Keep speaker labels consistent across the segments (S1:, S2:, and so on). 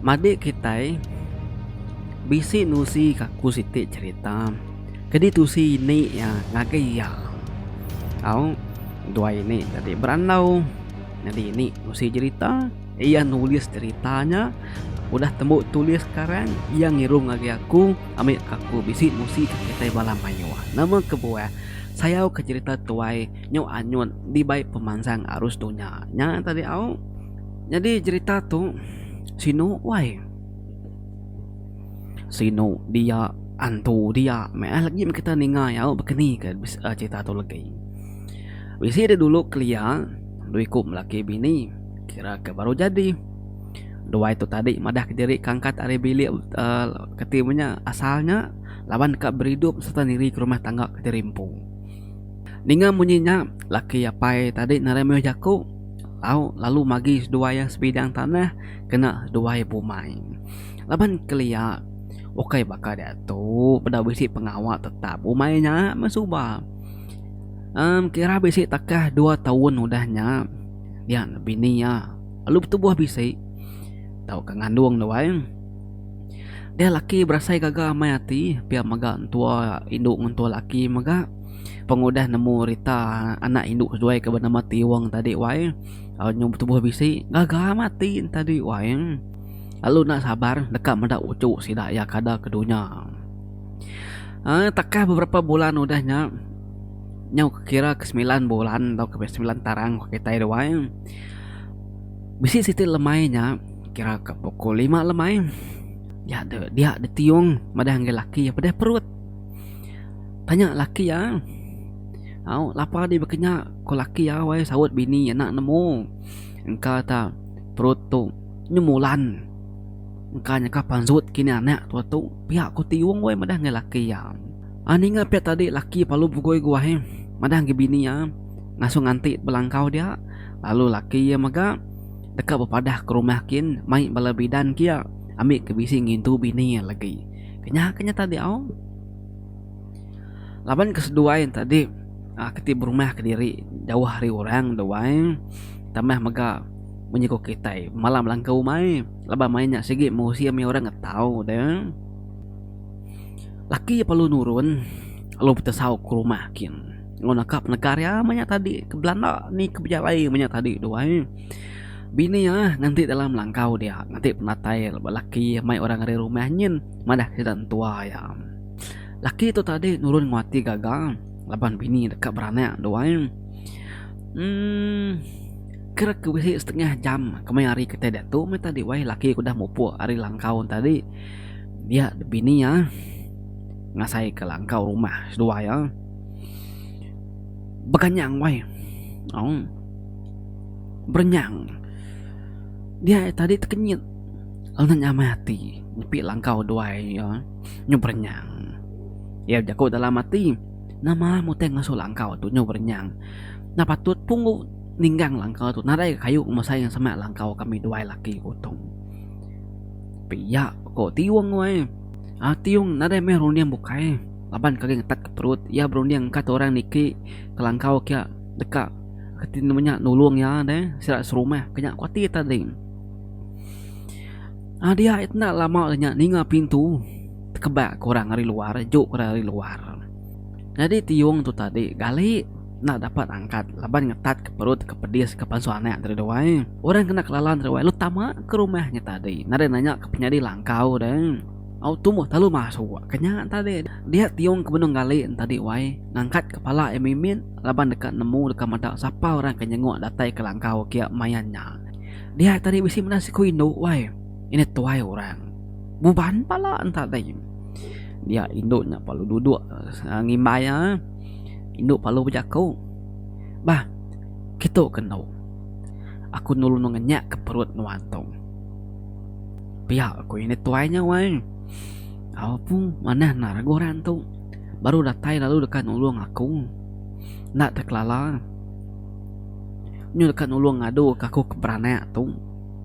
S1: Madik kitai bisi nusi ka aku siti cerita kadi tusi ini iya ngagai iya tau dua ini tadi berandau nyadi ini nusi cerita. Iya nulis cerita nya, udah tembu tulis karan, iya ngirung agi aku ambi ka aku bisi musi ka kitai bala mayuh. Nama kebuah sayau ka cerita tuai nyu anyut dibai pemansang arus dunya nya tadi au. Nyadi cerita tu sinu wai. Sinu dia, antu dia meh ai legi kita ninga iya au bakani ka cerita tu legi. Bisi dulu kelia dua iku laki bini. Kira ke baru jadi. Duai tu tadi madah ke diri kangkat ari bilik keti meh nya asal nya laban ka beridup sereta niri ke rumah tangga ke diri empu. Ninga munyi nya, laki apai tadi narai mayuh jaku tau lalu magi seduai iya sebidang tanah kena seduai bumai. Laban kelia ukai baka diatu peda bisi pengawa tetap bumai nya meh suba. Em kira bisi takah dua taun udah nya. nya bini iya lalu betubuh bisi tauka ngandung dia wai dia laki berasai gaga amai ati pia mega entua indu ngan entua laki mega pengudah nemu rita anak indu seduai ke benama tiong tadi wai au nyau betubuh bisi gaga amat ati enta dui wai lalu enda sabar deka meda uchu sida iya kada ke dunya um takah beberapa bulan udah nya nyau ke kira ke semilan bulan tauka ke semilan tarang ku kitai da wai bisi siti lemai nya kira ka pukul lima lemai dia de dia de tiong madah enggau laki iya pedeh perut tanya laki iya au lapa di bekenya ku laki iya wai saut bini ena nemu engka ta perut tu nyemulan engka nyeka panjut kinih anak tua tu pia ku tiong wai madah enggau laki iya. Ah ninga pia tadi laki palu begoi guai eh madah agi bini iya ngasuh nganti belangkau dia lalu laki iya mega deka bepadah ke rumah kin mai bala bidan kia ambi ke bisi ngintu bini iya lagi kenyah ke nya tadi au laban ke seduai tadi ah ke ti berumah kediri jauh ari orang duai tambah mega menyukup kitai malam langkau umai laban mai nya sigi musim iya orang ngetau deh. Laki iya perlu nurun lalu betesau ke rumah kin lalu naka penekar iya manya tadi ke belanda ni ke bejalai manya tadi tu ai. Bini iya nganti dalam langkau dia nganti penatai ba laki iya mai orang ari rumah nyin madah sida entua iya. Laki tu tadi nurun nguati gaga laban bini deka beranak tu ai. Emm kira ke bisi setengah jam kemaya hari kitai diatu meh tadi wai laki ku dah mupuk ari langkau tadi. Dia bini iya ngasai ke langkau rumah seduai iya. Beganyang wai. Oh. Berenyang. Dia tadi tekenyit lalu nya amai ati nyepi langkau duai iya nyu berenyang. Iya bejaku dalam ati, nama mutai ngasuh langkau tu nyu berenyang. Enda patut pun ku ninggang langkau tu nadai kayu ngemesai sema langkau kami duai laki ku tu. Pia ko Tiong wai. Ah Tiong nadai meh runding bukai laban kagi ngetat ke perut iya berunding engka tu orang niki kelangkau kia deka reti menya nulung iya deh sida serumah ke nya kuati tadi. Ah dia iti enda lama ke nya ninga pintu tekebak ke orang ari luar juk ke orang ari luar. Nyadi Tiong tu tadi gali. enda dapat angkat laban ngetat ke perut ke pedis ke pansut anak tadi deh wai. Orang kena kelala tadi wai lu tama ke rumah nya tadi nadai nanya ke penyadi langkau deh. Au tumbuh talu masuk ke nya tadi dia tiung ke benung gali nya tadi wai ngangkat kepala iya mimit laban deka nemu deka meda sapa orang ke nyenguk datai ke langkau kia main nya. Dia tadi bisi meda siku indu wai ineh tuai orang buban pala nya tadi. Dia indu nya lalu duduk ngimbai iya. Indu Palu bejaku, Bah, kitu ke endo. Aku nulung ngenyakka perut nuan tu. Pia ku ini tuai nya wai. Au pu manah enda regu orang tu. Baru datai lalu deka nulung aku. Enda tau kelala. Nyu deka nulung ngaduka aku ke beranak tu.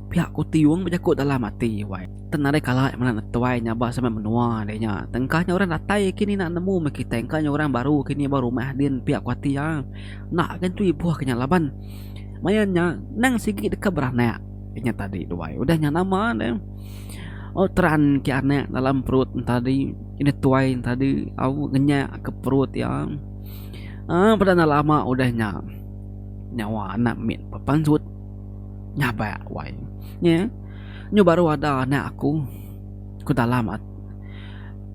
S1: Pia ku Tiong bejaku dalam ati wai. Tang nadai kala nya meda netuai nyabas ame menua deh nya. Tengkah nya orang datai kini enda nemu meh kitai engka nya orang baru kini ba rumah din pia ku ati iya. Enda agi nentu ibuh ke nya laban maya nya endang sigi deka beranak ke nya tadi duai udah nya nama deh au teran ke anak dalam perut nya tadi netuai nya tadi au ngenyak ke perut iya aaa peda enda lama udah nya nyawa anak mit pepansut nyabak wai. Nyu baru ada anak aku, ku Talam at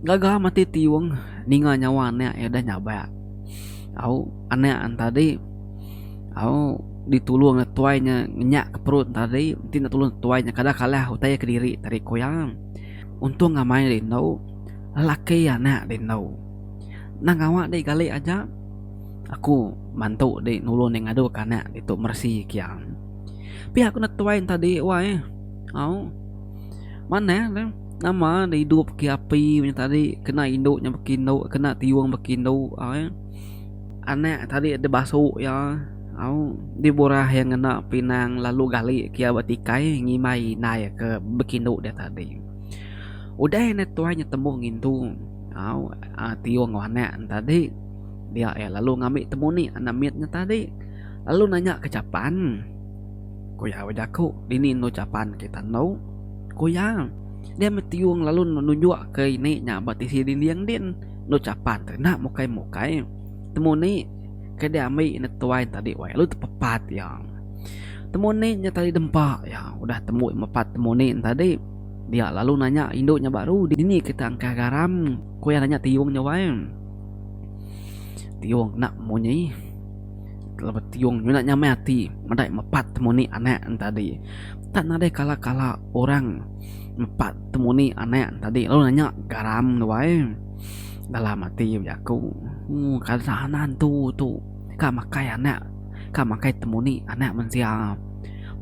S1: gaga mati tiung ninga nyawa anak iya deh nyabak. Au anak an tadi au ditulung neg tuai nya nginyak ke perut tadi enti enda tulung tuai nya kada kalah utai iya kediri tadi ku iya. Untung amai deh indu lelaki anak deh indu nang gawa deh gali aja aku mantu deh nulung deh ngadu ke anak ditu meresi ke iya. Pia ku netuai enta di wai au manah ne nama ne idup bagi api nya tadi kena indu nya bagi indu kena tiyung bagi indu au eh anak tadi deh basu iya au deh burah iya ngena pinang lalu gali ke iya ba tikai ngimbai indai iya ke bagi indu dia tadi udah iya netuai temu ngintu au tiyung enggau anak ne tadi dia iya lalu ngambi temu nik anak mit nya tadi. lalu nanya ke Chapan, Ku iya ba jaku, Dini endo Chapan kita endo? Ku iya, Dia metiung lalu nunjuk ke ini nya ba tisi dinding din. Endo Chapan tu enda mukai-mukai. Temu ni ke dia ambi neg tuai tadi wai lalu tepepat iya. Temu ni nya tadi dempa iya. Udah tembu mepat temu ni tadi, dia lalu nanya indu nya baru, Dini kita engkah garam? Ku iya nanya tiung nya wai. Tiung enda munyi. Kala betiung nyunak nyamai ati meda mepat temuni anak entadi. Tak nadai kala-kala orang mepat temuni anak entadi lalu nanya garam tu ai dalam ati bejaku ooh ka sana antu tu ka makai anak ka makai temuni anak mensia.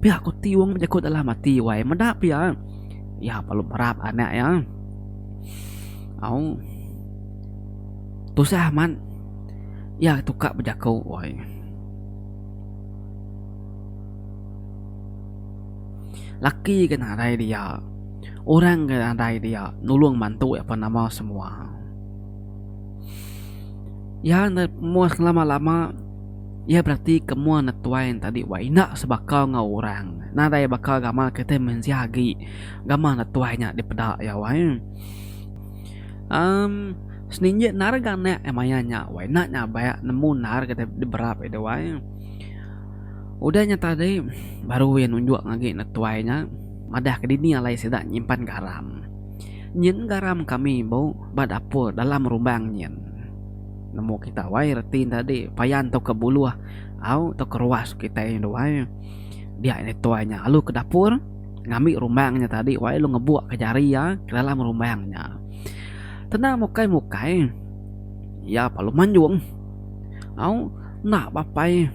S1: Pia ku tiung bejaku dalam ati wai meda pia iya parap anak iya au. Tusah amat iya tukar bejaku wai. Laki ke nadai dia, orang ke nadai dia nulung mantu iya pan nama semua. Iya enda moh selama-lama iya berarti ke moh enda tuai enda tadi wai enda sebaka enggau orang. Nadai baka gamal kitai mensia agi gamal enda tuai nya dipeda iya wai. Umm seninjik nar ga anak eh maya nya wai enda nya ba nemu nar ga diberap ida wai udah nya tadi baru iya nunjuk agi netuai nya madah ke dini alai sida nyimpan garam nyin garam kami bu ba dapur dalam rumbang nyin nemu kita wai reti ne tadi paya entu ka buluh au tau ka ruas kitai ne wai dia netuai nya lalu ka dapur. ngambi rumbang nya tadi wai lu ngebuk ke jari iya ke dalam rumbang nya tenang mukai mukai iya pa lu manjung au enda bapai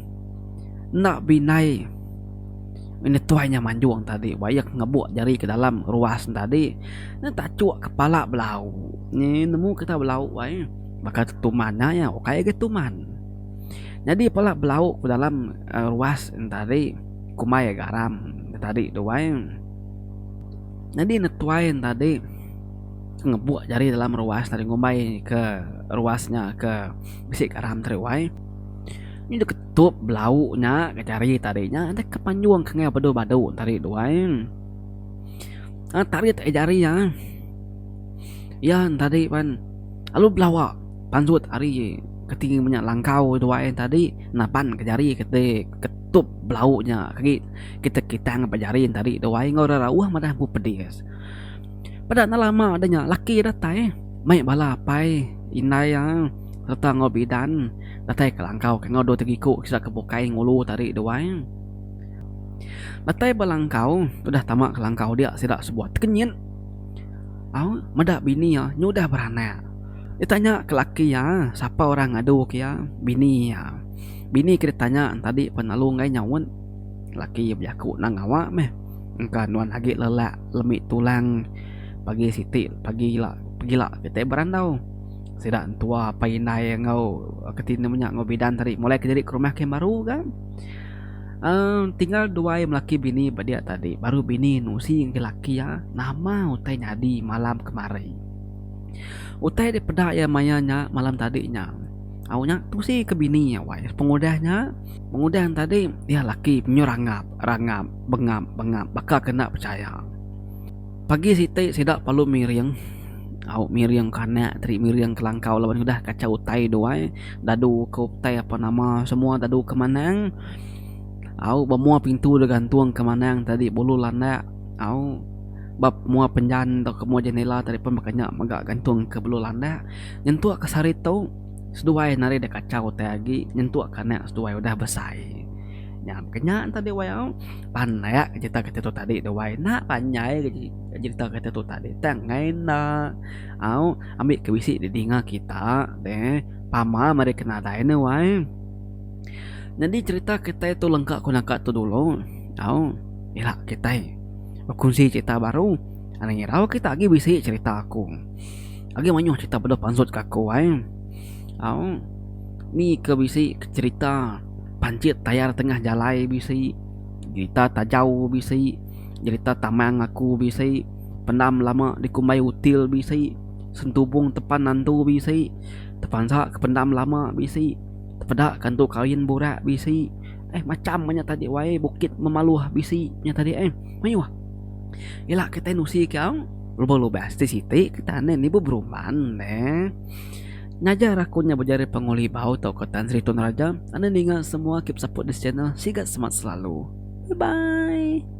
S1: enda bindai ngini tuai nya manjung tadi wai iya ke ngebuk jari ke dalam ruas nya tadi nya tachuk kepala belau nyi nemu kita belau wai baka tu tuman nya iya ukai agi tuman nyadi pala belau ke dalam ruas nya tadi. Kumbai ya garam ke tadi tu wai. Nyadi ne tuai ne tadi ngebuk jari dalam ruas tadi ngumbai ke ruas nya ke bisi garam tadi wai. Nya deh ketup belau nya ke jari tadi nya deh ke panjung ke ngaih badu badu tadi tu wai. Aaa tarit ahi jari iya ai. Iya ne tadi pen lalu belawa pansut ari keti menya langkau tu wai tadi naban ke jari keti. Tup belau nya agi kita kitang ba jari enti ari dua ai enggau orang rauh madah empu pedis. Peda enda lama deh nya laki datai mai bala apai indai iya serta enggau bidan datai ke langkau ke enggau dua ti iku sida ke bukai ngulu enti ari dua ai. Datai ba langkau udah tama ke langkau dia sida sebuah tekenyit au meda bini iya nyudah beranak. Ditanya ke laki iya sapa orang ngadu ke iya bini iya. Bini ke ditanya entadi pen lalu enggai nyaut. Laki iya bejaku endang ngawa meh. Engka nuan agi lelak lemi tulang pagi siti pagi ila pegila kitai berandau. Sida entua apai indai enggau keti enda menya enggau bidan tadi mulai ke nyadi ke rumah ke baru ga. Aaa tinggal duai melaki bini ba dia tadi baru bini nusi ngagai laki iya nama utai nyadi malam kemari. Utai dipeda iya maya nya malam tadi nya. Au nya tusi ke bini iya wai pengudah nya pengudah yang tadi iya laki penyu rangap rangap bengap bengap baka ke enda pechaya pagi siti sida perlu miring au miring ke anak tadi miring ke langkau laban udah kacau utai dia wai dadu ke utai apa nama semua dadu ke manang au ba mua pintu da gantung ke manang tadi bulu landak au ba mua penjan tauka mua jendela tadi pun baka nya mega gantung ke bulu landak. nyentuk ka sehari tu seduai nari da kachau utai agi nyentuk ka anak seduai udah besai nya mega nya tadi wai au pandak cerita kita tu tadi tu wai enda panjai lagi cerita kita tu tadi tang ngena au ambi ke bisi di dinga kita deh pama meri ke nadai ne wai nyadi cerita kitai tu lengka ku naka tu dulu au ila kitai bekuzi cerita baru ngira kita agi bisi cerita ku. Agi mayuh cerita bedau pansut ke aku ai. Au. Ni ke bisi cerita pancit tayar tengah jalai bisi. Cerita tajau bisi. Cerita tamang aku bisi. Pendam lama dikumbai util bisi. Sentubung tepan nantu bisi. Tepansa ke pendam lama bisi. Tepeda ke antu kawin burak bisi. Eh macham manya taji wai bukit memaluh bisi nya taji eh. Mayuh. Ila kitai nusi ke au. Lubang lubas ti siti kita ane nibu berumban ne. Ngajar aku nya bejari penguli bau tauka Tan Sri Tun Raja ane ninga semua keep support this channel siga semat selalu bye bye.